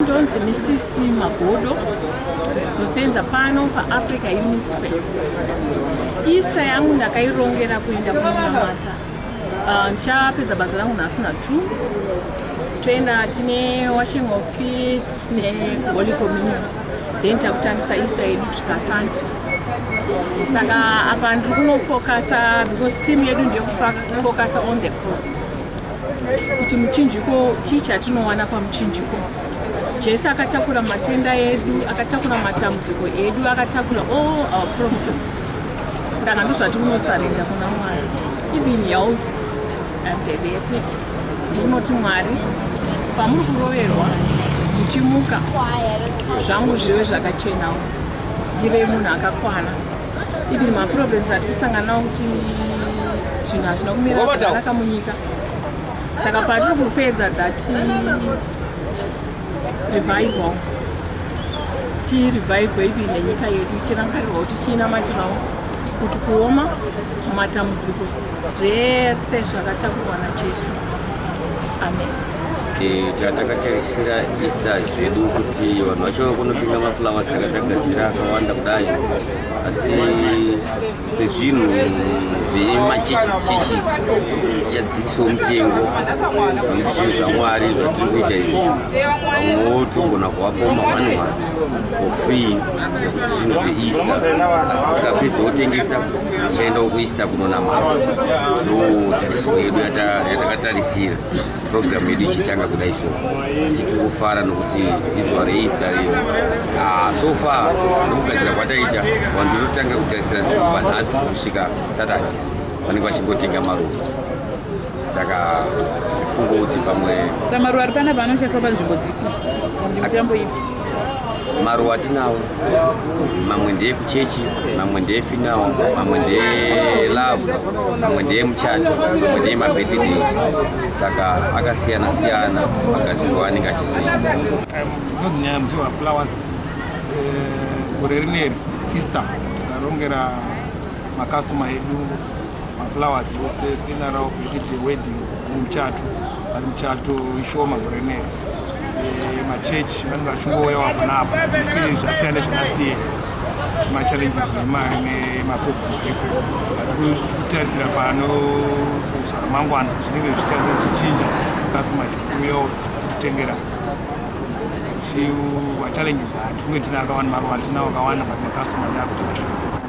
ndonzi misisi magodo ndosenza pano paafrica union square easter yangu ndakairongera kuenda kunamata ah, ndichapedza basa rangu nhasi na two toenda tine washing of feet neholy communion then takutangisa easter yedu kusvika sunday saka apa ndiri kunofokasa because team yedu ndeyekufokasa on the cross kuti muchinjiko chii chatinowana pamuchinjiko jesu akatakura matenda edu akatakura matambudziko edu akatakura all our problems saka ndozvati unosarenda kuna mwari even health and diabetic ndinoti mwari pamuri kuroverwa muchimuka zvangu zvive zvakachenawo ndive munhu akakwana even maproblems ati kusangana nawo kuti zvinhu hazvina kumira zvakanaka munyika saka patiri kupedza that revival tirevive even nenyika yedu ichirangarirwa kuti chiinamatirawo kuti kuoma matambudziko zvese zvakatakurwa najesu Takatarisira Easter zvedu kuti vanhu vacho kunotenga maflowers akatagadzira akawanda kudai asi sezvinhu zvemachechi chechi zvichadzikisawo mutengo nekuti zvinhu zvamwari zvatiri kuita izvi vamwewo togona kuvapoma vanhu for free nekuti zvinhu zveeaster asi tikapedza wotengesa tichaenda wokueaster kunonamata ndo tarisiro yedu yatakatarisira program yedu ichitanga kudai so asi tiri kufara nokuti izuva reeaster riyo ah, so far nekugadzira kwataita vanhu tototanga kutarisira zvinhu panhasi kusvika saturday vanenge vachingotenga maruva saka tifungo kuti pamwe samaruwa ari panapa anoshandiswa panzvimbo dzipi mitambo ipi maruwa atinawo mamwe ndeye kuchechi mamwe ndeye finawo mamwe ndeye love mamwe ndeye muchato mamwe ndeye mabirthdays saka akasiyana siyana magadzirwa anenge achizoita ndozinyaya musi waflowers eh, gore rineri easter tarongera makastoma edu maflowers ese funeral kuchiti wedding muchato but muchato ishoma gore ne eh, machurch vanenge vachingouya wakona apo isi zvasiyana nezvelast year machallenges nemari nemapopo tikutarisira pano zvaramangwana zvinenge zvichitaza zvichinja kasi machikuuyawo zvichitengera chiu machallenges hatifunge tina akawanda maruva tina wakawanda but makastoma ndakutenga shoo